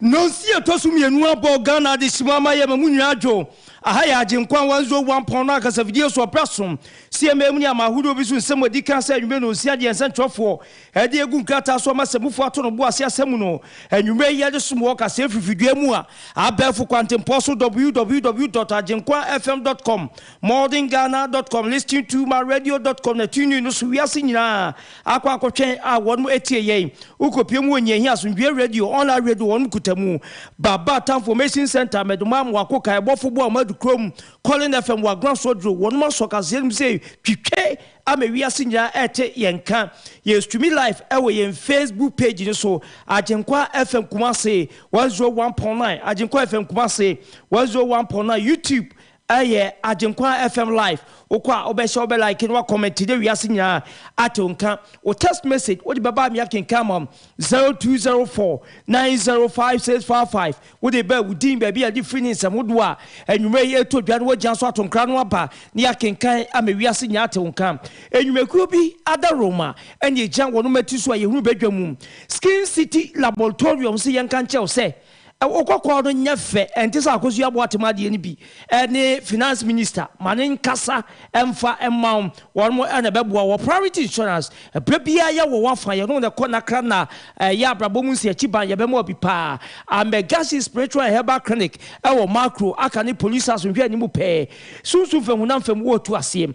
nonsi ɛtɔ so mmienu abɔ ghana adehyeman ama yɛ ma mu nyinaa adwo aha yɛ agyenkwa 101 pɔn no akasafidie so ɔpra som cma mu ne ama ahodoɔ bi so nsɛm adi kan sɛ anwummerɛ nonsi adeɛ nsɛntwerɛfoɔ Ɛde agu nkrataa so ama asɛmufo ato no bo ase asɛm mu no. Anwummere yi yɛde som wɔ ɔkasaa afifidua mu a abɛɛfo kwantempɔn so www dot agyenkwa fm dot com, modern ghana dot com, listening to ma radio dot com na tunein no so wiase nyinaa akɔ akɔtwɛn a wɔnom atie yɛn. Wokopue mu wɔ nea ehia asomdwoe radio, online radio, wɔnom kuta mu. Baba Tanformation Centre, Medomaa mo wako kae bɔfo bo a wɔadu kurom, Colin FM wɔ Agoran Sodro, wɔnom asɔ kaseɛ no mu sɛ twitwe ama wiase nyinaa ɛrete yɛn nka. Yɛ streami live ɛwɔ yɛn Facebook page no so, Agyenkwa FM Kumasi 101.9, Agyenkwa FM Kumasi 101.9, YouTube ɛyɛ Agyenkwa FM live, wokɔ a wobɛhyɛ wobɛ like na wakɔmɛnte na wiase nyinaa ate wo nka. Wo text message wode bɛba a meakenkan ama wo, 0204 905655. Wode bɛɛ wo din, baabi a yɛde firi ne nsɛm hodoɔ a anwummerɛ yi ɛretɔ dwa no wɔagyina so ato nkra no aba na yɛakenkan ama wiase nyinaa ate wo nka. Nnwumakuo bi ada Roma ɛne ɛgyina wɔn mmati so a yɛhunu badwa mu. Skin City Laboratorium se yɛnka nkyerɛ wo sɛ wo kɔkɔɔ no nyɛ fɛ, ɛnte sɛ akosua aboa atem adeɛ no bi. ne finance minister ma no nkasa mfa mma wo, wɔnom na ɛbɛboa wo. Priority insurance, berɛ biara yɛ wɔ w'afa, yɛnom na ɛkɔ nakra na ɛyɛ abrabɔ mu nsi akyi ban, yɛbɛma wo bi paa. Amegasi Spiritual and Herbal Clinic wɔ Makro, Aka ne Police House nhwɛanim pɛɛ, Sunsum fam honam fam wɔ Tuaseɛ.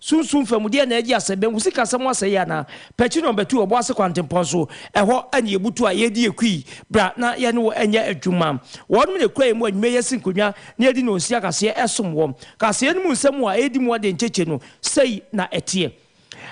Sunsum fa mu, deɛn na yɛgye asɛ? Banku sikasɛm ho asɛyɛ anaa? Pɛkyere na ɔbɛtu ɔbo ase kwantempɔn so. Ɛhɔ na yɛbutu a yɛredi akui. Bra na yɛne wo nyɛ adwuma. Wɔnom na ɛkura yɛn mu anwummerɛ yi asi nkonnwa na yɛadi no nsi akaseɛ ɛsom wɔn. Kaseɛ no mu nsɛm a ɛredi mu adeɛ nkyekye no, sei na ɛteɛ.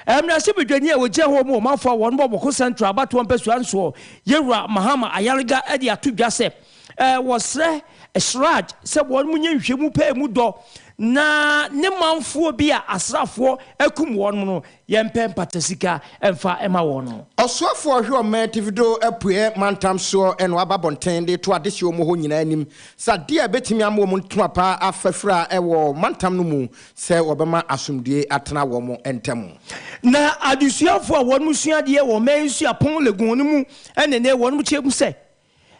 Mmarahyɛbadwani a ɔgyina hɔ mu ɔmanfoɔ a wɔnom wɔ Bawku Central abatoɔ mpɛsoa nsoɔ, Yewura Mahama Ayariga de ato dwa sɛ, Wɔsrɛ Siraj sɛ wɔnyɛ nhwehwɛmu pɛ a emu dɔ na ne manfoɔ bi a asraafoɔ akum wɔn no yɛmpɛ mpata sika mfa mma wɔn no. Ɔsoafoɔ hwɛ ɔman atifido apueɛ mantam soɔ no waba abɔnten de reto adehyeɛ wɔ hɔ nyinaa anim sɛ adeɛ a ɛbɛtumi ama wɔn ntoma pa afa fira wɔ mantam no mu sɛ wɔbɛma asomdwoeɛ atena wɔn ntam. Na adesuafoɔ a wɔn sua adeɛ wɔ Ɔman Suapɔn Legon no mu ne ne wɔn kyerɛ mu sɛ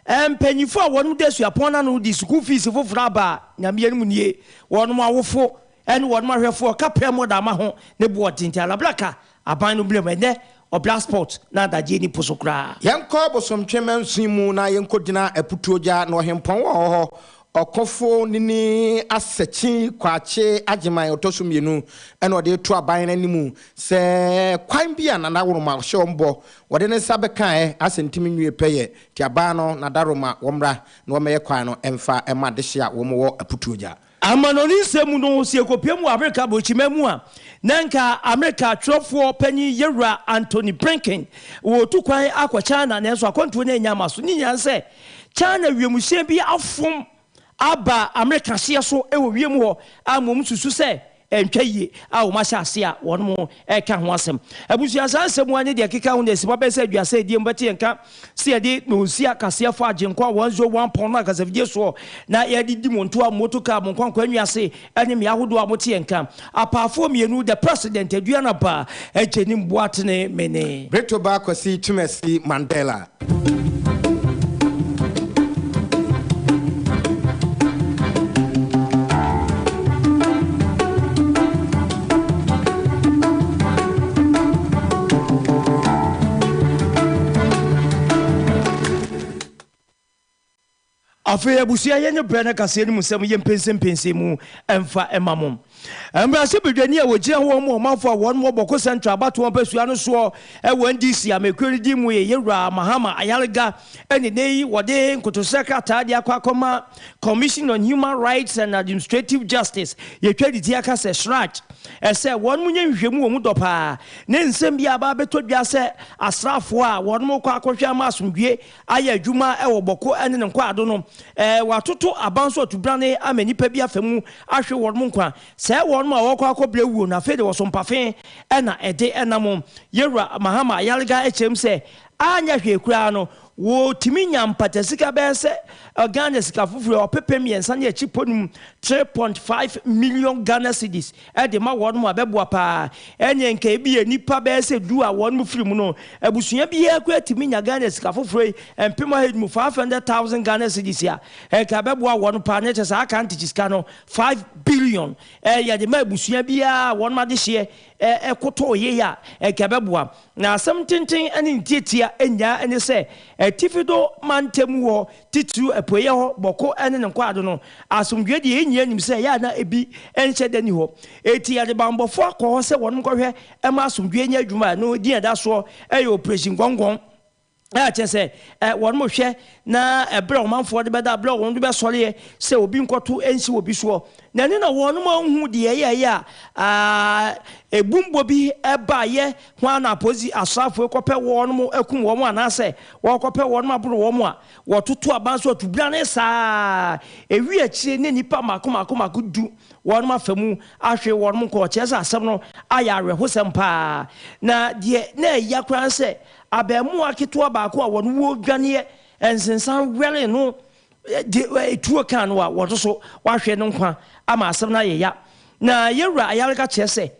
Mpanyimfo a wɔnom da suapɔn no ano no de sukuu fees foforo aba a Nyame yɛ no mu nie, wɔnom awofo ne wɔnom ahwɛfo a ɔka pɛ mmɔ da mma ho ne boɔ ɔtenten alabra ka aban no mmerɛm ɛnnɛ ɔbra spot na adagyeɛ ni po so koraa. Yɛnkɔ bosomtwe mansin mu na yɛnkɔgyina Aputuogya na ɔhempɔn a ɔwɔ hɔ, Ɔkofo Nini Asakyi Kwakye Agyeman ɔtɔ so mmienu na ɔde reto aban no anim sɛ kwan bi a Nana Woroma hyɛ wɔn bɔ Wɔde ne nsa bɛkaɛ asɛ ntim nwie pɛyɛ, nti abaa no n'adaroma wɔmmra na wɔmmɛyɛ kwan no mfa mma dehye a wɔn wɔ aputuo gya. Amanɔne nsɛm mu no, sɛ yɛkɔpiam wɔ Amerika Aborɔkyiman mu a, na nka Amerika twerɛfoɔ panin Yɛwura Antony Blinken ɔretu kwan akɔ China, nanso akwantuo no annya ama so. Ne nyinaa ne sɛ, China wiemhyɛn bi afom. aba Amerika hyeɛ so wɔ wiem hɔ a mmom susu sɛ ɛntwa yie a wɔn ahyɛ aseɛ a wɔn reka ho asɛm. Abusua saa nsɛm mu a ne deɛ ɛkeka ho na ɛsi hɔ abɛyɛ sɛ aduasa ɛdie mu bɛte yɛn nka sɛ yɛde noosia kaseɛ fa Agyenkwa 101 pɔn no akasafidie soɔ na yɛde di mo ntoa, motor car, mo nkwankwa nnwiase, ɛne mmea ahodoɔ a moteɛ nka, apaafoɔ mmienu, the President, Aduana Ba, Agyenim Boatene Mene. Brito Ba Kwasi Twumasi Mandela. Afei abusua yɛnyɛ brɛ na kaseɛ no mu sɛm yɛ mpɛnsɛmpɛnsɛ mu mfa ma mo. Mmarahyɛ badwani a ɔgyina wɔn mu ɔmanfoɔ a wɔn wɔ Bawku Central abatoɔ mpasua no soɔ wɔ NDC amekuo no din mu yɛ Yɛwuraa Mahama Ayariga ɛne nɛ yi wɔde nkotosrɛ krataa de akɔ akɔma Commission on Human Rights and Administrative Justice yɛtwa ne ti aka sɛ Shraj ɛsɛ wɔn nyɛ nhwehwɛmu wɔ mu dɔ paa ne nsɛm bi a aba abɛtɔ dwa sɛ asraafoɔ a wɔn kɔ akɔhwɛ ama asomdwie ayɛ adwuma wɔ bɔko ne ne nkwaado no, wɔatoto aban nso atubrane ama nnipa bi afa mu ahwe wɔn nkwa, sɛe wɔn ma wɔkɔ akɔbrɛ awuo, na afei de wɔso mpafe na ɛde nam. Yɛn Wura Mahama Ayariga kyerɛm sɛ, anyɛ hwee koraa no, wɔtumi nya mpata sika bɛyɛ sɛ Ghana sika foforo ɔpepem mmiɛnsa ne akyipɔnum, 3.5 million Ghana cedis, de ma wɔn a ɛbɛboa paa ɛneɛ nka ebia nnipa bɛyɛ sɛ du a wɔn firi mu no abusua biara koraa tumi nya Ghana sika foforɔ yi mpem ɔha yi mu 500,000 Ghana cedis a nka ɛbɛboa wɔn paa na kyɛ saa aka ntikyi sika no 5 billion ɛɛ yɛde ma abusua biara a wɔn adehyeɛ ɛɛ kotoo yei a nka ɛbɛboa na asɛm tenten ɛne ntiatia nyaa ɛne sɛ atifi do mantam wɔ titiriw Apueeɛ hɔ, Bɔko ne ne nkwaado no, asomdwoeɛ deɛ yɛn nyinaa nim sɛ ɛyɛ a na ebi nhyɛ da nni hɔ. Enti yɛde bammɔfoɔ akɔ hɔ sɛ wɔn nkɔhwɛ mma asomdwoeɛ nyɛ adwuma a ɛno din a ɛda soɔ yɛ Operation Gɔngɔn, a kyerɛ sɛ wɔhwɛ na ɛberɛ a ɔmanfoɔ de bɛda, berɛ a wɔn de bɛsɔreɛ sɛ obi nkɔto nsi wɔ bi soɔ no, ɛno na wɔn anhu deɛ ɛyɛeɛ a ebummɔ bi baeɛ Hwan na apolisi asraafo yi kɔpɛ wɔnom akum wɔn anaasɛ wɔkɔpɛ wɔnom aboro wɔn a wɔtoto aban so atubrane saa a ɛwie akyire ne nnipa mmaako mmaako mmaako du wɔnom afa mu ahwere wɔnom nkɔ? Kyerɛ sɛ asɛm no ayɛ awerɛhosɛm pa ara. Na deɛ na ɛya koraa ne sɛ abarimaa ketewa baako a wɔn wuo dwaneɛ nsensan wɛree no de tuo kaa no a wɔto so wahwere no nkwa ama asɛm no ayɛ ya. Na Yɛwura Ayariga kyerɛ sɛ,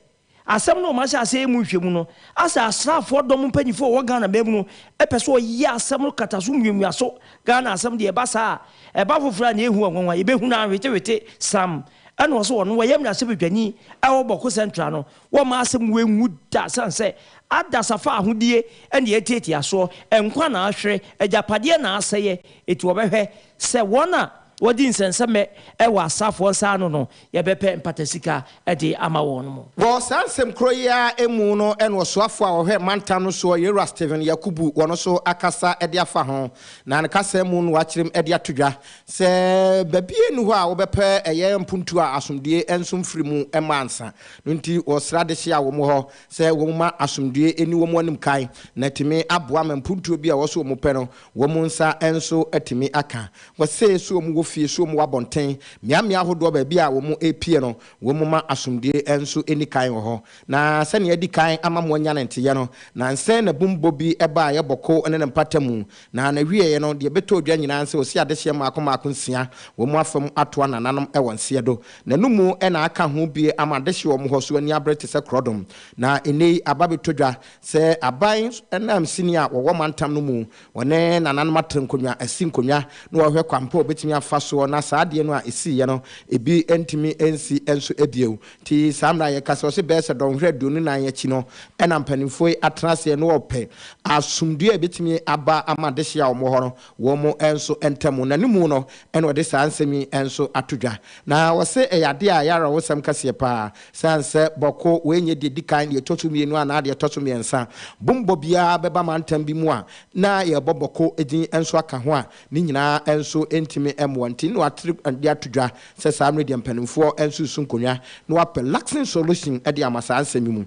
Asɛm no rema sɛ asɛyɛ mu nhwɛmu no, asɛ asraafoɔ dɔm mpanyinfoɔ a wɔwɔ Ghana man mu no pɛ sɛ ɔyɛ asɛm no kata so muamua so, Ghana asɛm deɛ ɛba saa a, ɛba foforɔ a na ɛhu wɔn nwanwa, yɛbɛhu no ara hwetewhete, Sam ɛna ɔse ɔno ɔyɛ mmarahyɛbadwani ɛwɔ Bawku Central no, wɔmma asɛm wei nwu da ɛsiane sɛ adasa fa ahodie ɛne atiatia soɔ, nkwa na ahwere, agyapadeɛ na asɛeɛ, enti wɔbɛhwɛ Sɛ wɔn a wɔdi nsɛnsɛmɛ wɔ asraafoɔ nsa ano no, yɛbɛpɛ mpatasika de ama wɔn mo. Wɔ saa nsɛm korɔ yi ara mu no na ɔsoafoɔ a ɔhwɛ mantam no soɔ Yewura Stephen Yakubu wɔ no so akasa de afa ho, na ne kasa mu no wakyerem de ato dwa sɛ baabiara nni hɔ a wɔbɛpɛ ɛyɛ mpuntuo a asomdwoeɛ nso mfiri mu mma ansa no nti wɔsra dehye a wɔn wɔ hɔ sɛ wɔmma asomdwoeɛ nni wɔn anim kan na atumi aboa ma mpuntuo bi a ɛwɔ so wɔpɛ no Wɔn nsa nso atumi aka. Wɔse so wɔn wɔ fie, so wɔn wɔ abɔnten, mmeammea ahodoɔ baabi a wɔn repie no, wɔn mma asomdwoe nso nni kan wɔ hɔ. Na sɛnea adi kan ama moanya ne nteyɛ no, nansɛ na bum bɔ bi baa yɛ bɔko ne ne mpatamu, na na wieɛ no, deɛ bɛtɔ odwa nyinaa nse ɔsi adehyeɛ mmaako mmaako nsia, wɔn afa mu atoa nananom wɔ nseɛ do. Na no mu na aka ho bie ama adehyeɛ wɔ mo hɔ so ani abere te sɛ korɔdom. Na nnɛ yi, aba bɛtɔ dwa, Sɛ aban nanmusini a wɔwɔ mantam no mu, wɔne nananom atra nkonnwa asi nkonnwa na wɔhwɛ kwan pa a wɔbɛtumi afa soɔ na saa adeɛ no a ɛsiiɛ no, ebi ntumi nsi nso bio. Nti saa mmerɛ a yɛka sɛ ɔse bɛyɛsɛ dɔnhwere aduonu nan akyi no na mpanimfoɔ yi atena aseɛ na wɔpɛ asomdue a ɛbɛtumi aba ama dehye a wɔn wɔ hɔ no wɔn nso ntam na ne mu no na wɔde saa nsɛm yi nso ato dwa. Na wɔse ɛyɛ adeɛ a ɛyɛ awerɛhosɛm kɛseɛ pa ara Esiane sɛ bɔko wei nyɛ deɛ ɛdi kan, deɛ ɛtɔ so mmienu anaa deɛ ɛtɔ so mmiɛnsa, bommɔ biara bɛba mantam bi mu a na yɛrebɔ bɔko din nso aka ho a, ne nyinaa nso ntumi mmoa. Nti na wɔatere de ato dwa sɛ saa mmerɛ deɛ mpanimfoɔ nsusu nkonnwa na wɔapɛ lasting solution de ama saa nsɛm yi mu.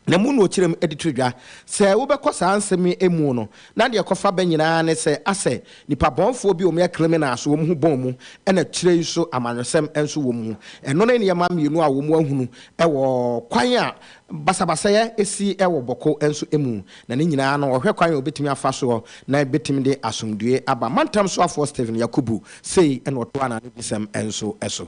na mu na ɔkyerɛ mu de to dwa. Sɛ wobɛkɔ saa nsɛm yi mu no, na deɛ ɛkɔfa ba nyina ara ne sɛ, asɛ nnipa bɔnfoɔ bi a wɔyɛ krimina so wɔn ho bɔn mu, ɛna akyire yi nso amanyɔsɛm nso wɔ mu. Ɛno ne nneɛma mmienu a wɔahunu wɔ kwan a basabasayɛ si wɔ Bɔko nso mu, na ne nyina ara no ɔhwɛ kwan a ɔbɛtumi afa soɔ na ɛbɛtumi de asomdwoeɛ aba. Mantam soafoɔ Stephen Yakubu sei na ɔtoa n'anodisɛm nso so.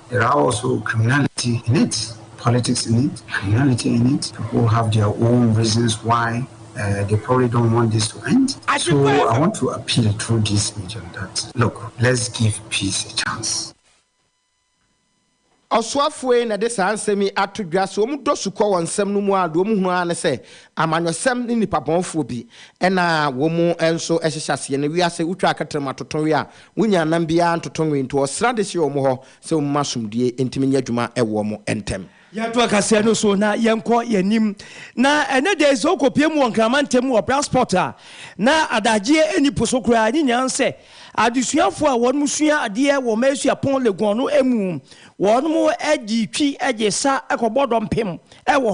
Erawo so criminality in it, politics in it, criminality in it, people have their own reasons why uh, they probably don't want this to end. So I want to appeal through this medium that look, let's give peace a chance. Ɔsoafoɔ yi na ɛde saa nsɛm yi ato dwa sɛ wɔn dɔ sukɔ wɔ nsɛm no mu a deɛ wɔn hunu ara ne sɛ amanyɔsɛm ne nipabɔnfoɔ bi ɛna wɔn nso ɛhyehyɛ aseɛ no wiase wotwa akɛtɛrɛm atoto wia Wonnya nam biara ntoto nwe nto ɔsra de hyɛ wɔn hɔ sɛ wɔmma asomdwoe ntumi nyɛ adwuma wɔ wɔn ntam. Yɛnto ɔkasaɛ no so na yɛnkɔ yɛn anim. Na ɛnnɛ da yi sɛ wokɔpue mu wɔ Nkraman ntam wɔ Brasport a, na adagyeɛ nni po so koraa. Ne nyinaa sɛ adesuafoɔ a wɔnom sua adeɛ wɔ Maesua Pon Legon no mu, wɔnom gye twi gye sa kɔbɔ dɔmpem wɔ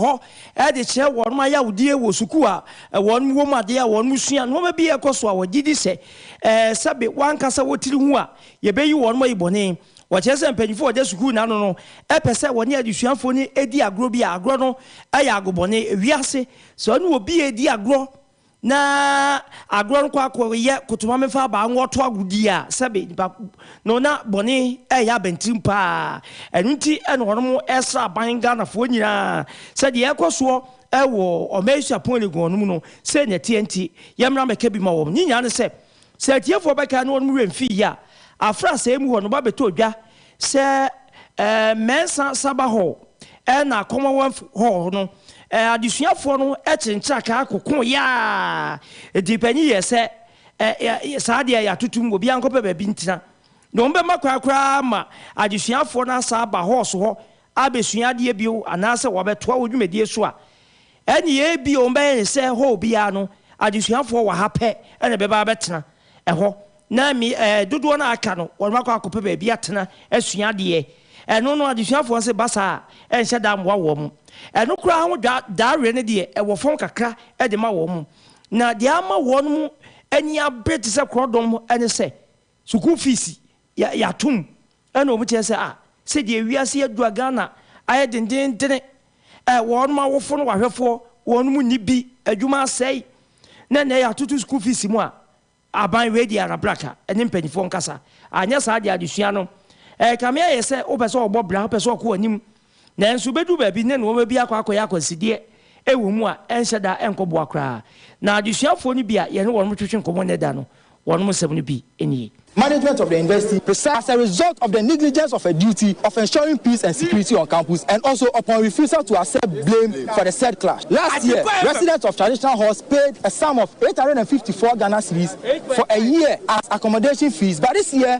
hɔ de kyerɛ wɔnom ayawdie wɔ sukuu a wɔnom wɔ mu, adeɛ a wɔnom sua, nnoɔma bi a ɛkɔ so a wɔgyedi sɛ Ɛɛ, sɛbe w'ankasa wo tiri ho a, yɛbɛyi wɔnom ayi bɔne. Wɔkyerɛ sɛ mpanyimfo a wɔda sukuu no ano no pɛ sɛ wɔne adesuafo no di agorɔ bi a agorɔ no yɛ agobɔne. Wiase, sɛ ɔne obi redi agorɔ na agorɔ no kɔ akɔyɛ kotomamemfa-abaa nwɔto agodie a, sɛbe nnipa no na bɔne reyɛ abɛntirim paa. Ɛno nti na wɔnom sra aban Ghanafoɔ nyinaa sɛ deɛ ɛrekɔ soɔ wɔ ɔman suapɔn Legon no mu no, sei na ɛteɛ nti, yɛmmra mmɛka bi ma wɔn. Ne nyinaa ne sɛ, sɛ atiefoɔ bɛkae na wɔnom werɛ mfi yie a, afra asɛeɛ mu hɔ no, wɔabɛtɔ odwa sɛ mɛnsa saba hɔ na Commonwealth Hall no. Adesuafoɔ no kyere ntrakaa koko yaa. Di panyin yɛɛ sɛ, Saa deɛ yɛatoto mu, obiara nkɔpɛ baabi ntena. Na wɔbɛma kwan koraa ma adesuafoɔ no asan aba halls hɔ abɛsua adeɛ bio anaasɛ wɔabɛtoa wo dwumadie so a, ɛnneɛ ebia wɔbɛyɛ no sɛ hɔɔl biara no, adesuafoɔ wɔ ha pɛ na ɛbɛba abɛtena ɛhɔ, na me, ɛɛ, dodoɔ no a aka no, wɔakɔ akɔpɛ baabi atena asua adeɛ. Ɛno no, adesuafoɔ se ba saa a, ɛnhyɛ da mmoa wɔn. Ɛno koraa ho dwa, daaweɛ no deɛ, ɛwɔ fam kakra de ma wɔn. Na deɛ ama wɔn ani abere te sɛ korɔdɔm ne sɛ, Sukuu fees yɛ yɛ atom ɛna ɔmo kyerɛ sɛ ah sɛdeɛ wiase adu a Ghana ayɛ dendendene eh wɔn mo awofo no wahwɛfoɔ wɔn mo nni bi adwuma asɛe na ɛnɛ yɛ atoto sukuu fees mu a aban wei deɛ arabraka ɛne mpaninfoɔ nkasa anyɛ saa deɛ adesua no ɛɛkame ayɛ sɛ wopɛ sɛ ɔbɔ bra wopɛ sɛ ɔkɔ anim Nanso bedu baabi ne nnoɔma bi akɔ akɔyɛ akwansideɛ wɔ mu a ɛnhyɛ da nkɔboa koraa. Na adesuafoɔ no bi a yɛne wɔnom twetwe nkɔmmɔ nnɛ da no, wɔnom nsɛm no bi nie. Management of the University Research As a result of the negligence of her duty of ensuring peace and security on campus and also upon refusal to accept blame for the said clash last year, residents of Traditional Halls paid a sum of eight hundred and fifty four Ghana cedis for a year as accommodation fees but this year,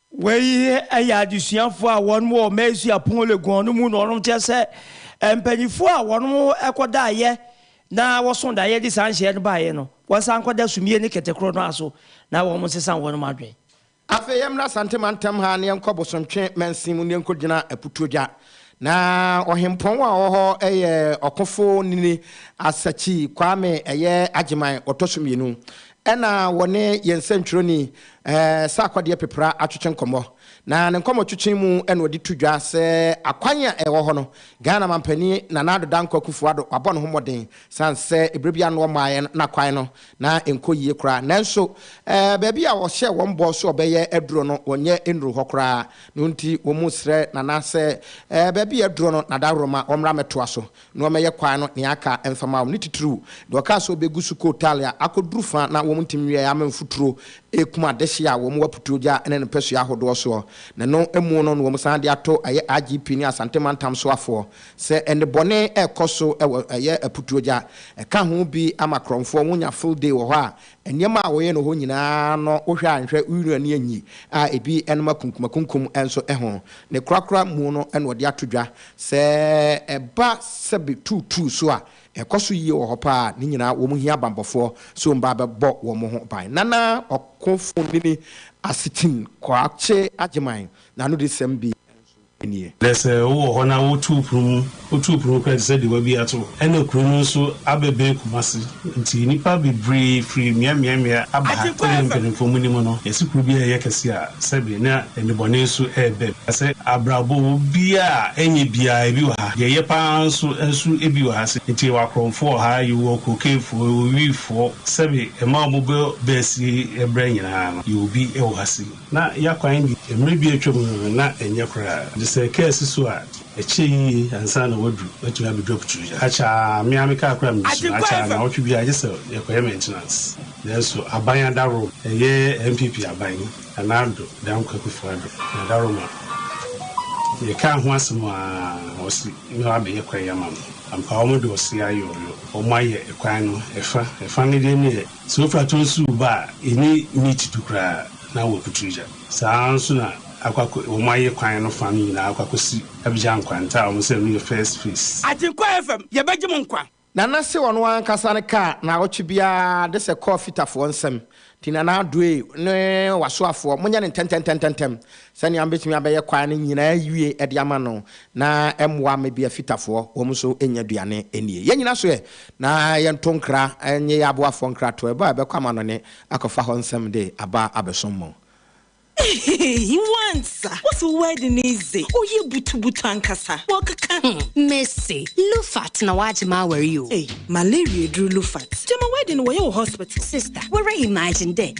Wei yɛ adesuafoɔ a wɔnom wɔ Maisu Apong Leguan no mu na wɔnom kyerɛ sɛ mpaninfoɔ a wɔnom kɔ daeɛ na wɔso daeɛ de saa nhyɛɛ no baeɛ no wɔsan kɔ da sumie ne kɛtɛ korɔ no ara so na wɔnom nsesa wɔnom adwen. Afei yɛmmra Asante mantam ha na yɛnkɔ Bosontwe mansin mu na yɛnkɔ gyina Aputuogya. Na ɔhempɔn a ɔwɔ hɔ yɛ Ɔkofo Nini Asakyi Kwame ɛyɛ Agyeman ɔtɔ so mmienu. Ɛnna wɔne yɛn sɛnkyerɛwni, Sarko Adeɛpepra atwetwe nkɔmmɔ, na ne nkɔmmɔtwetwe mu na ɔde to dwa sɛ akwan a ɛwɔ hɔ no, Ghana mampanin Nana Addo Dankwa Akufo-Addo wabɔ ne ho mmɔden sane sɛ berɛ bi ano ɔmmaeɛ no na kwan no na ɛnkɔ yie koraa. Nanso, baabi a ɔhyɛɛ wɔn bɔ sɛ ɔbɛyɛ aduro no, wɔnyɛ nnuruu hɔ koraa. Ne nti, wɔsrɛ Nana sɛ baabi a aduro no na daworo ma wɔmmra mmɛtoa so. na ɔmmɛyɛ kwan no nea aka mfa mma wɔn, ne titiriw deɛ ɔkaa sɛ ɔbɛgu so kɔɔ Italy a akɔduru fã na wɔn ntim wieeɛ ama mfuturo rekum adehyeɛ a wɔwɔ putuo gya ne ne mpasua ahodoɔ soɔ na ɛno mu no na wɔn san de ato ɛyɛ IGP ne Asante mantam soafoɔ sɛ nnebɔne rekɔ so wɔ ɛyɛ aputuo gya ɛka ho bi ama korɔmfoɔ wɔnya field day wɔ hɔ a Nneɛma a wɔyɛ no hɔ nyinaa no, wohwɛ a nhwɛ wira ne anyi a ebi nom akunkumakunkum nso ho. Ne korakora mu no na wɔde ato dwa. Sɛ ɛba sɛbe tuutuu so a, ɛkɔ so yie wɔ hɔ paa. Ne nyinaa wɔhia bammɔfoɔ sɛ wɔn ba bɛbɔ wɔn ho ban. Nana Ɔkofonini Asetin Koakye Agyeman n'anodesɛm bi nso. nie. Na sɛ wowɔ hɔ na wotu wo pono mu, wotu wo pono mu koraa te sɛ deɛ woabue ato, ɛnna kuro no nso abɛbɛn Kumasi. Enti nnipa bebree firi mmeaemmeaemmea aba ha sɛdeɛ mpanimfoɔ mu nim no, yɛse kuro bi a ɛyɛ kɛse a, sɛbe na nnebɔne nso reba mu. Na sɛ abrabɔ wɔ bi a, ɛnyɛ bi ara, ebi wɔ ha, deɛ ɛyɛ pa ara nso nso bi wɔ ha. Se enti yɛwɔ akorɔmfoɔ wɔ ha, yɛwɔ kokeefoɔ, yɛwɔ wiifoɔ, sɛbe mmaa a wɔbɔ bɛɛsie berɛ nyinaa no, yɛwɔ bi wɔ ha se. Ná ya kwan de, mmere bi a atwam no, na ɛnyɛ koraa. Ɔde sɛ kaa si so a, ɛkyɛ yiye ansa na wadu. Watumi abedu Aputuo yi. Akyɛa a, me ara me kaa koraa misi mu. Akyɛa a, nnawɔtwe biara, gye sɛ yɛkɔyɛ maintenance. Nanso aban adaworom, ɛyɛ NPP aban, Nana Addo, Dame Kwakufoɔ Addo, na adaworom a, yɛkaa ho asɛm a, wɔse na wɔabɛyɛ kwan yi ama me. Ampa, wɔde ɔsea yɔɔyɔ. Wɔayɛ kwan no ɛfa. Ɛfa no deɛ ne yɛ. Sɛ wofi atɔe nso reba a, ɛnyɛ meat du koraa na wɔakutu gya. Saa ara nso na akɔ akɔ, wɔayɛ kwan no fã no nyinaa akɔ akɔsi Abidjan nkwanta a wɔsɛ ɛno yɛ first phase. Agyenkwa FM, yɛbɛgye mo nkwa. Nana se ɔno ankasa no kaa naawɔtwe biara de sɛ kɔɔ fitafoɔ nsam, nti Nana Addoe ne wasoafoɔ monyɛ no ntɛntɛntɛntɛntɛm Sɛnea mubetumi abɛyɛ kwaa no nyinaa awie de ama no na ɛmmoa ama ebia Fitafoɔ wɔn nso nnya aduane nnie. Yɛn nyinaa so ɛ? Na yɛnto nkra nnye yɛn aboafoɔ nkratoɔ ɛbɔ a ɛbɛkɔ amannɔne akɔfa hɔ nsɛm de aba abɛsom mo. Ehehehe wansa wo se wo wedding no dze ɔyɛ butu butu ankasa wɔkeka ho. Me se Lufat na wagye m'awar yi o. Ei malaria aduru Lufat gyama wedding no wɔyɛ wɔ hospital. Sister wara imagine dɛ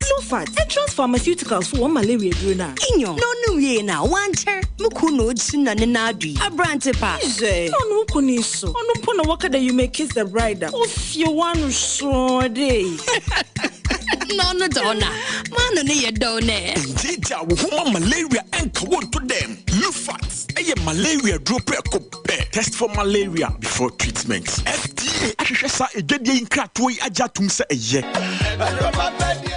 Clofart, Entrance Pharmaceuticals so wɔn malaria duro no a. Inyo, na ɔnom wiei no a, wankyɛr, mo kun na oesu na ne nan adui. Aberantse pa! Dze, na ɔno wo kun yi so, ɔno mpo na wɔka dɛ you may kiss the bride a, ofie w'ano sɔɔ dɛ eyi. Na ɔno dɛ ɔno a, m'ano no yɛ dɔw nɛ. Ngye gyaa wo ho ma malaria nka wo nto dɛm. Clofart yɛ malaria duro prɛko. pɛ test for malaria before treatment. FDA ahwehwɛ saa adwadie yi nkratoɔ yi agye atom sɛ ɛyɛ.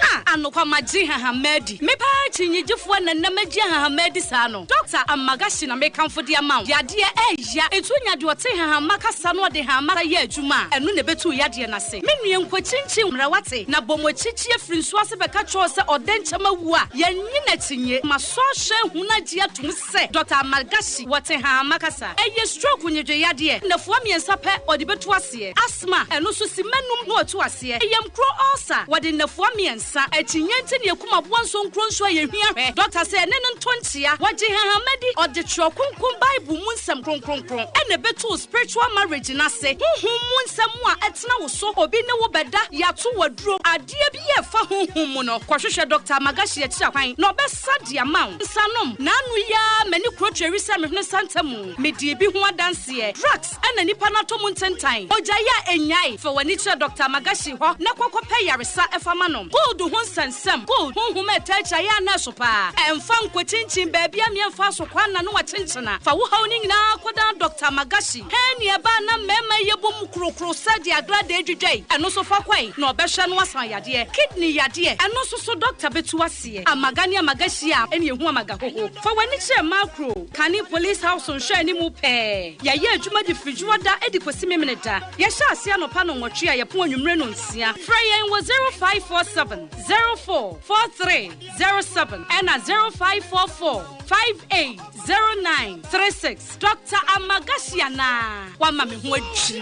Ah, anokwa magye hahama adi. Me paa akyinnyegyefoɔ na nnam agye hahama adi saa no. Dɔkta Amagashi na mekamfo de ama wo. Yadeɛ ɛɛya. Etu nya deɛ ɔte hahama kasa na ɔde hahama kasa yɛ adwuma a, ɛno na ɛbɛtu wo yadeɛ no ase. Me nua nkɔkyinkyin mmara wate? Na bɔ mo akyi kyie firi nsuo ase bɛka kyerɛ wo sɛ ɔdɛnkyɛm awu a, yɛnnye no akyinnye. Masɔ ahwɛ ahunu agye atom sɛ. sɛ Dɔkta Amalgashi wɔ Tehama kasa. Ɛyɛ stroke nwedweyadeɛ nnafua mmiɛnsa pɛ ɔde bɛtu aseɛ. Asthma, ɛno nso simma nnum na ɔtu aseɛ. Yamkuro ulcer, wɔde nnafua mmiɛnsa. Akyinnye nti na yɛkum aboa nso nkuro nso a yɛhia hwɛ. Dɔkta sɛ ɛne no nto nkyea. Wɔgye Tehama di. Ɔde Twerɛ Kronkron Bible mu nsɛm kronkronkron na ɛbɛtu wo spiritual marriage no ase. Honhom mu nsɛm a ɛtena wo so, obi ne wo bɛda, yɛato wo aduro, adeɛ biara a ɛfa honhom mu no, kɔhwehwɛ Dɔkta Amalgashi akyiri akwan na ɔbɛ. Sa de ama wo nsa nom. Naanu yi ara m'ani kuro tweri sɛ mehunu santa mu. Medii bi ho adanseɛ. Drugs na nipa no atɔ mu ntentan. Ogyae a ɛnnyae. Fa w'ani kyerɛ Doctor Magashi hɔ na kɔ kɔpɛ yaresa fa ma no. Gold ho nsɛnsɛm, gold, honhom a ɛtaa gyae a na ɛso paa. Ɛmfa nkɔkyinkyin baabi a meɛmfaa so kwan na no akyenkyena. Fa wo haw no nyinaa kɔdan Doctor Magashi. Hɛn ne ɛba a na mmarima yi yɛ bom korokoro sɛ deɛ agradaa dwidwa yi. Ɛno nso fa kɔe na ɔbɛhwɛ na wasan yadeɛ. Kidney yadeɛ, ɛno nso so Doctor bɛtu ase. deɛ. Amaga ne amaga hyia a ɛne ɛhu amaga hoho. Fa w'ani kyerɛ Macro, kane Police House nhwɛ anim pɛɛ. Yɛyɛ adwuma de firi dwoɔ da de kɔsi Memene da. Yɛhyɛ aseɛ anɔpa nnɔnwɔtwe a yɛpon anwummere nnɔnsia. Frɛ yɛn wɔ 0547 04 4307 ɛna 0544 58 09 36. Doctor Amagashi anaa? Wama me ho adwiri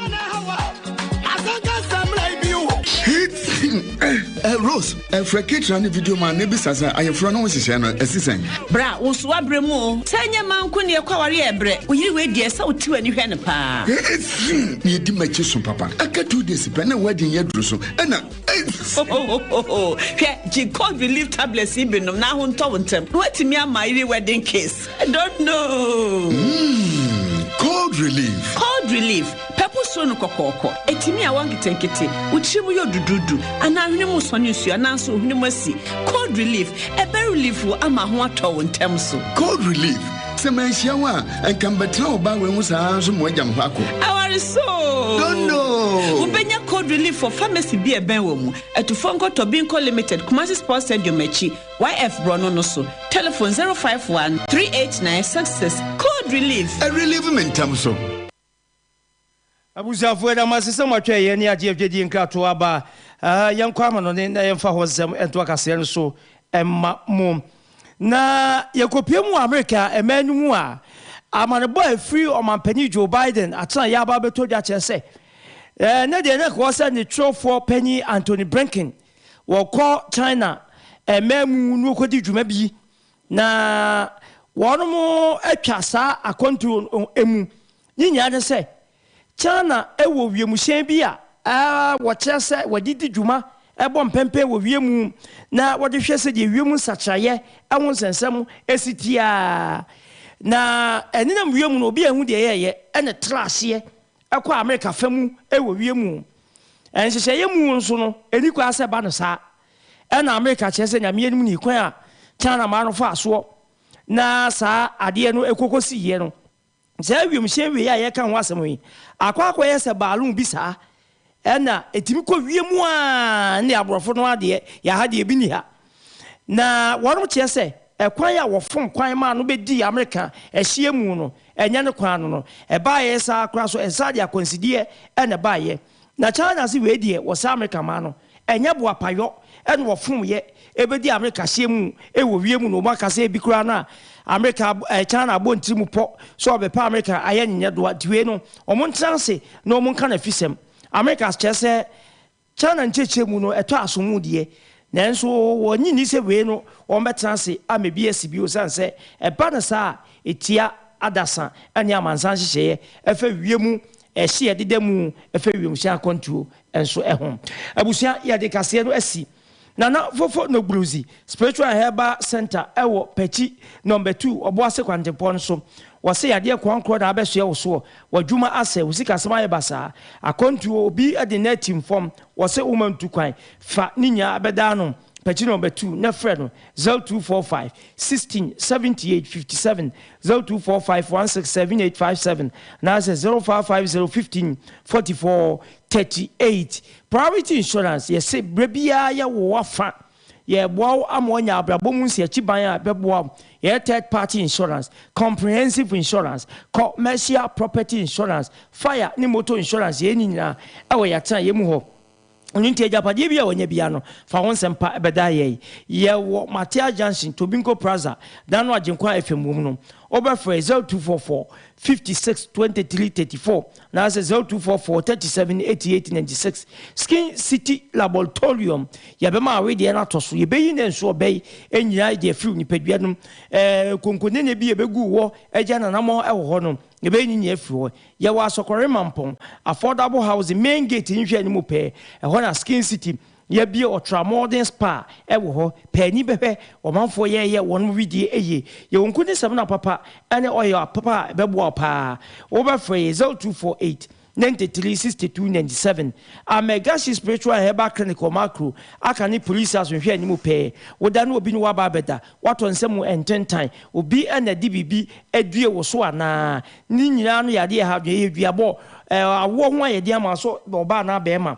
mu. Eh, Rose, ɛfrɛ eh, ketra ne video ma ne bisa sɛ ayeforo no wohyehyɛ no ɛsi sɛn bra wo so wabrɛ mu o sɛ nyɛ ma nko neɛ kɔ aware ɛbrɛ woyere woadiɛ sɛ wotiw ani hwɛ no paa ɛsi ne ɛdi makyi so papa aka two days pɛ na woadi nyɛ duru so ɛna hwɛ gye cold relief tablets yi bi nom na ho ntɔ wo ntɛm na woatumi ama ayere wedding kiss i don't know mm, cold relief cold relief pɛpo suro no kɔkɔɔkɔ ɛtumi a wɔnketenkete wo tiri mu yɛ odududu anaa hwene mu sɔne nsuo anaasɛ ohwene mu asi cold relief ɛbɛ relief wo ama ho atɔ wo ntɛm so cold relief Sɛ manhyia wo a, nka mbɛtena wo ba wei ho saa nso mo agya mo hɔ akɔ. Awari so. Dondo. Wobɛnya cold relief wɔ pharmacy bi a ɛbɛn wɔ mu. Atufo nkɔ Tɔbinko Limited, Kumasi Sports Stadium akyi, YF Borɔno no so. Telephone 051 389 66. Cold relief. Ɛrelieve me ntɛm so. Abusuafo, yɛda mo ase sɛ moatwɛn yɛn ne agye yɛn Dwadie nkratoɔ aba. Yɛnkɔ amanɔne na yɛmfa hɔ nsɛm nto akaseɛ no so mma mo. Na yɛkɔpue mu wɔ Amerika mmaa no mu a, amanebɔ a ɛfiri Ɔmampanin Joe Biden atenaeɛ aba abɛtɔ dwa kyerɛ sɛ, ɛnnɛ deɛ na ɛka hɔ sɛ ne twerɛfoɔ panin Antony Blinken wɔkɔ China mmaa mu na ɔkɔdi dwuma bi Na wɔatwa saa akwantuo no mu. Ne nyinaa ne sɛ, China wɔ wiemhyɛn bi a wɔkyerɛ sɛ wɔde di dwuma bɔ mpɛmpɛn wɔ wiem na wɔde hwɛ sɛdeɛ wiem nsakyeraeɛ ho nsɛnsɛm si teɛ a, na ɛnenam wiem no, obiara nhu deɛ ɛyɛeɛ, ɛna ɛtra aseɛ kɔ Amerika fa mu wɔ wiem. Nhyehyɛeɛ mu nso no, ɛnni kwan sɛ ɛba no saa. Ɛna mereka kyerɛ sɛ nea meyɛ no mu ni, kwan a China mmaa no faa soɔ na saa adeɛ no kɔkɔ siiɛ no, saa wiemhyɛn wei a yɛreka ho asɛm yi akɔ akɔyɛ sɛ balloon bi saa, ɛna ɛtumi kɔ wiem a ne aborɔfo no adeɛ, yɛn ha deɛ ebi nni ha. Na wɔnom kyerɛ sɛ ɛkwan a wɔfom kwan maa no bɛdii Amerika ɛhyeɛ mu no, ɛnyɛ ne kwan no no, ɛbaeɛ saa koraa nso ɛnsa de akwansideɛ na ɛbaeɛ. Na China se wei deɛ wɔsɛ Amerika maa no, ɛnyɛ boapayɔ na wɔfomyɛ bɛdi Amerika hyeɛ mu wɔ wiem na wɔaka sɛ ebi koraa no a Amerika ab ɛɛ China abɔ ntirimu pɔ sɛ ɔbɛpɛ Amerika ayɛ nyenyɛdoa nti wei no wɔn ntena ase na wɔn nka n'afisɛm. Amerika as kyerɛ sɛ China nkyerɛkyerɛ mu no ɛtɔ asomu deɛ nanso wɔn nnye nni sɛ wei no wɔn bɛtena ase ama ebi asi bio ɛsiane sɛ ɛba no saa a ɛtia adasa ne amansan nhyehyɛeɛ ɛfa wiem Ɛhye a ɛdeda mu fa wiemhyɛn akwantuo nso ho. Abusua, Yɛde kaseɛ no asi Nana Fofo Nogbrudzi Spiritual and Herbal Centre ɛwɔ Pɛkyi Nɔmba Tuu, Ɔboase Kwantempɔn no so. Wɔse yadeɛ krɔnkrɔn na abɛsoɛ wo soɔ, w'adwuma asɛe, wo sikasɛm ayɛ basaa, akwantuo, obi de nnɛ atim fam, wɔse woma ntu kwan, fa ne nyinaa bɛdaa no. Page number two, na frɛ no, zero two four five sixteen seventy eight fifty seven, zero two four five one six seven eight five seven, anaasɛ zero five five zero fifteen forty four thirty eight. Priority Insurance, Yɛse berɛ biara yɛwɔ w'afa. Yɛreboa wo ama woanya abrabɔ mu nsiakyiban a ɛbɛboa wo. Yɛyɛ Third Party Insurance, Comprehensive Insurance, Co, mmercial Property Insurance, Fire ne Motor Insurance, yɛyɛ ne nyinaa wɔ yɛn atenaeɛ mu hɔ. Ɛno nti, agyapadeɛ biara a wanya biara no, fa wo nsɛmpa bɛda yɛn. Yɛwɔ Matthias Junction, Tobinco Plaza, dan no a Agyenkwa FM wom no. Wobɛfrɛ 0244 56 23 34 anaasɛ 0244 37 88 96. Skin City Laboratorium, yɛbɛma awe deɛ no atɔ so. Yɛbɛyi ne nso ɔbɛ yi nyinaa de afiri nipadua no mu. Ɛɛ konkonene bi a ɛbɛgu wɔ agya nanamɔ wɔ hɔ no, Yɛbɛnyiyi afiri hɔ. Yɛwɔ Asɔkɔre Mampong, Affordable Housing, Main Gate nhwɛani mu pɛɛ, ɛhɔ na Skin City, yɛabie Ultra Modern Spa wɔ hɔ, paani bɛhwɛ ɔmanfoɔ yɛɛyɛ wɔnom wedie yie. Yɛwɔ nku ne samina papa ne oil papa a ɛbɛboa wo paa. Wobɛfrɛ yɛn 0248. Ninety three, sixty two, ninety seven, A Megasi Spiritual and Herbal Clinic wɔ Makro, aka ne Police House nhwɛ anim pɛɛ. Wo da ne obi ne wo aba abɛda. Woatɔ nsa mu ntentan. Obi na ɛde biribi adue wo so anaa? Ne nyinaa ano yɛ adeɛ a ɛha adwene. Ɛyɛ duabɔ, ɛɛ, awoɔ ho ayɛdeɛ ama so ɔbaa anaa barima.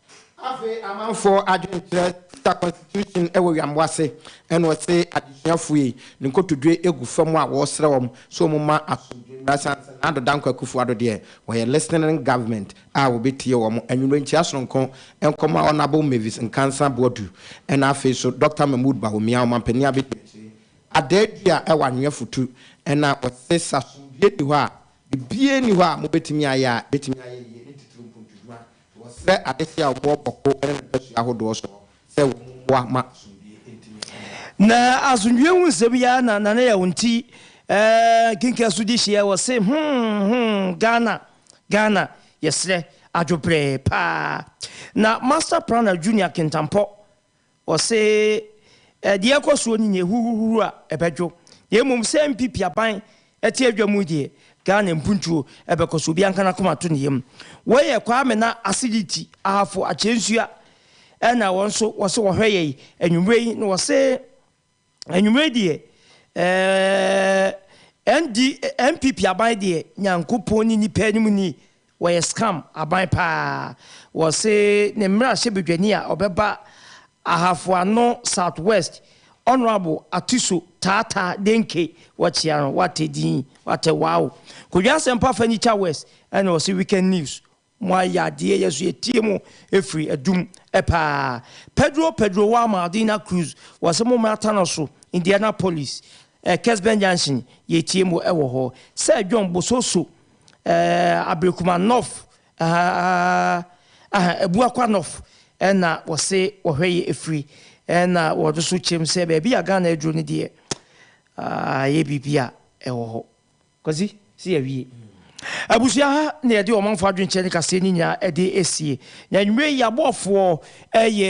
Afei amanfoɔ adwene kyerɛ Caesar constitution wɔ wiambo ase ɛna ɔse adesuafoɔ yi ne nkotodwe egu fam a wɔsrɛ wɔn sɛ wɔn mma asomdwe mmra ɛsiane sɛ Nado Dankwa Akufo Addo deɛ wɔyɛ listening government a wɔbɛtie wɔn anwummerɛ nkyia sononko nkɔmɔ a Honourable Mavis Nkansah Boadu ɛna afei nso Doctor Mahmood Bawumia Ɔmanpanin abɛdi akyire adaa dua ɛwɔ anwea futu ɛna ɔse sɛ asomdwe nni hɔ a biribiara nni hɔ a mobɛtumi ayɛ a ɛbɛtumi ayɛ yie ne titiriw mpuntuduwa Wɔsrɛ adehye a wɔwɔ bɔko ne mpasua ahodoɔ soɔ sɛ wɔn mmoa ma asomdwie ntumi nnyina. Na asomdwie ho nsɛm yi ara na Nana Yaw nti eh kenkan so di hyeɛ wɔse hmm hmm Ghana Ghana yɛsrɛ adwobrɛɛ paa Na Master Planner Junior Kintampɔ Wɔse, Deɛ ɛkɔ soɔ no nyɛ huhuhuhu a ɛbɛdwo, na mmom sɛ mpipi aban te adwa mu deɛ, Ghana mpuntuo bɛkɔ so, obiara nka n'akoma nto ne yam. Wei yɛ Kwame na Acidity Ahafo Akyɛnsua na wɔn nso wɔse wɔhwɛ yɛn anwummerɛ yi na wɔse, Anwummerɛ deɛ ɛɛɛ ND NPP aban deɛ Nyankopɔn ne nipa anim ni wɔyɛ scam aban paa wɔse ne mmarahyɛ badwani a ɔbɛba Ahafo Ano South West Honourable Atiso Tata Denke wɔkyea no watɛ din watɛ wow Kodwo Asɛmpa Afanyikya West ɛna ɔse Weekend News Mo ayadeɛ yɛ so yɛtie mo ɛfiri adum paa Pedro Pedro wa Maldina Cruz wɔ se mo mmra Tano so Indianapolis eh Kesben Junction yɛtie mo wɔ hɔ sɛ John Bososo eh Aberekuma North ahaa ahaa Abuakwa North ɛna wɔ se wɔhwɛ yɛ ɛfiri ɛna wɔ no so kyerɛ mu sɛ baabi a Ghana aduro no deɛ ah yɛ biribi a ɛwɔ hɔ. Kwasi, se yawie. Abusua ha na yɛde ɔmanfoɔ adwenkyerɛ ne kaseɛ no nyinaa de asie. Na anwummerɛ yi aboafoɔ yɛ.